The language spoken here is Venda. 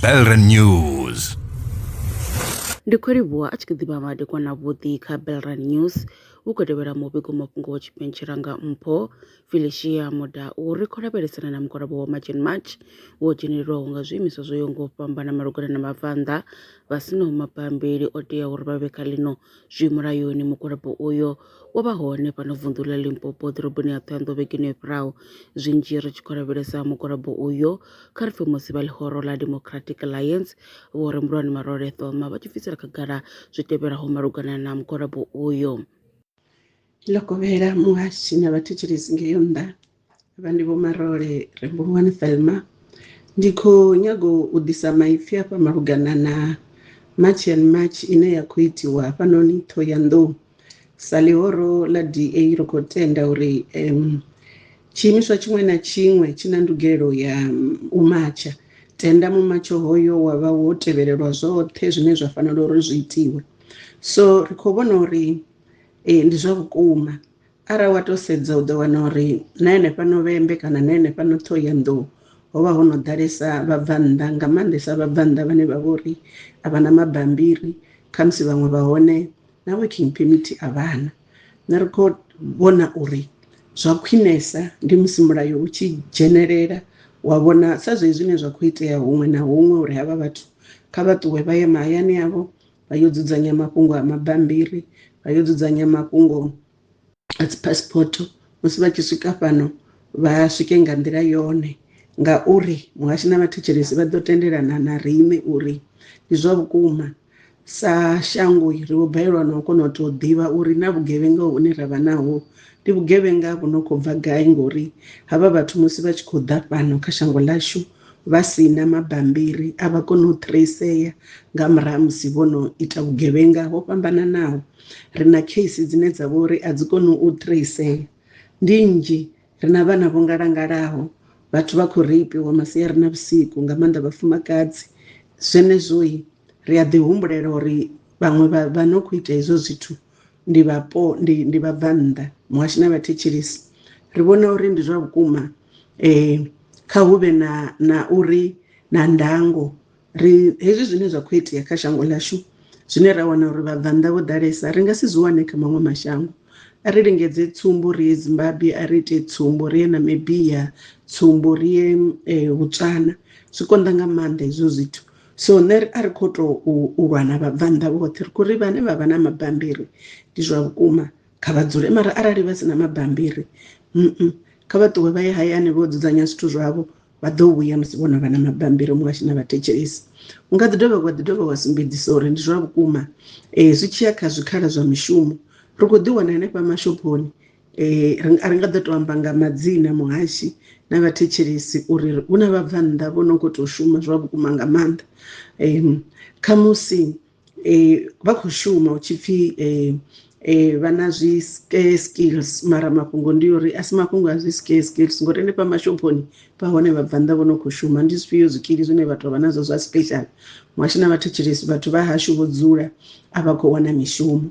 Belren News. ndi khou livhuwa a tshi kha ḓi vha madekwana vhuḓi kha belran news hu khou tevhela muvhigo mafhungo wa tshipentshela nga mpho felicia muda u ri khou lavhelesana na mugwalabo wa march and march wo dzhenelelwaho nga zwiimiswa zwo yaho nga u fhambana malugana na mabvannḓa vha sinaho mabambiri o teaho uri vha vhe kha ḽino zwi mulayoni mugwalabo uyo wo vha hone fhano vunḓu ḽa limpopo ḓoroboni ya ṱhoyanḓo vhegeni yo fhiraho zwinzhi ri tshi khou lavhelesa mugwalabo uyo kha ri pfhe musi vha ḽihoro ḽa democratic alliance vho re mulwani marole thoma vha tshi bvisela khagala zwi tevhelaho malugana na mugwalabo uyo ḽo kovhela muhasi na vhathetshelesi ngeyo nnḓa vha ndi vho marole rembungwani thelma ndi khou nyago u ḓisa maipfi afha malugana na march and march ine ya khou itiwa hafhanoni thohoyandou sa ḽihoro ḽa da ri khou tenda uri um tshiimiswa tshiṅwe na tshiṅwe tshi na ndugelo ya u matsha tenda mumatsho hoyo wa vha wo tevhelelwa zwoṱhe zwine zwa fanela uri zwi itiwe so ri khou vhona uri eh, ndi zwa vhukuma Arali wa tou sedza u ḓo wana uri na henefha Novembe kana na henefha no Ṱhohoyanḓou ho vha ho no ḓalesa vhabvannḓa nga maanḓesa vhabvannḓa vhane vha vha uri a vha na mabambiri khamusi vhaṅwe vha hone na working permit a vha na nṋe ri khou vhona uri zwa khwinesa ndi musi mulayo u tshi dzhenelela wa vhona sa zwezwi zwine zwa khou itea huṅwe na huṅwe uri havha vhathu kha vha ṱuwe vha ye mahayani avho vha yo dzudzanya mafhungo a mabambiri vha yo dzudzanya mafhungo a dzi passport musi vha tshi swika fhano vha swike nga nḓila yone ngauri muhashi na vhathetshelesi vha ḓo tendelana na riṋe uri ndi zwa vhukuma sa shango ri vho balelwa na u kona u tou ḓivha uri na vhugevhenga hune ra vha naho ndi vhugevhenga vhu no khou bva gai ngori havha vhathu musi vha tshi khou ḓa fhano kha shango ḽashu vha si na mabambiri a vha koni u traceya nga murahu musi vho no ita vhugevhenga ho fhambananaho ri na case dzine dza vha uri a dzi koni u traceya ndi nnzhi ri na vhana vho ngalangalaho vhathu vha khou reipiwa masiari na vhusiku nga maanḓa vhafumakadzi zwenezwoi ri a ḓi humbulela uri vhaṅwe vha no khou ita hezwo zwithu ndi vhapo ndi ndi vhabvannḓa muhashi na vhathetshelesi ri vhona uri ndi zwa vhukuma eh kha hu vhe na na uri na ndango ri hezwi zwine zwa khou itea kha shango ḽashu zwine ra wana uri vhabvannḓa vho ḓalesa ri nga si zwi wane kha maṅwe mashango a ri lingedze tsumbo ri ye zimbabwe a ri ite tsumbo ri ye namibia tsumbo ri ye eh, botswana zwi konḓa nga maanḓa hezwo zwithu so nṋe a ri khou tou u lwa na vhabvannḓa vhoṱhe ri khou ri vhane vha vha na mabambiri ndi zwa vhukuma kha vha dzule mara arali vha si na mabambiri mm kha vha ṱuwe vha ye hayani vho dzudzanya zwithu zwavho vha ḓo vhuya musi vho no vha na mabambiri muṅwe a tshi na vhathetshelesi u nga ḓi dovha wa ḓi dovha wa sumbedzisa uri ndi zwa vhukuma um zwi tshiya kha zwikhala zwa mishumo ri khou ḓi wana henefha mashophoni Eh, a ri nga ḓo tou amba nga madzina muhashi na vhathetshelesi uri hu na vhabvannḓa vho no khou tou shuma zwa vhukuma nga maanḓa um khamusi um vha khou shuma hu tshi pfhi um um vha na zwi scare skills mara mafhungo ndi uri a si mafhungo a zwi scare skills ngori henefha mashophoni vha hone vhabvannḓa vho no khou shuma ndi zwifhio zwikili zwine vhathu vha nazwo zwa special muhashi na vhathetshelesi vhathu vha hashu vho dzula a vha khou wana mishumo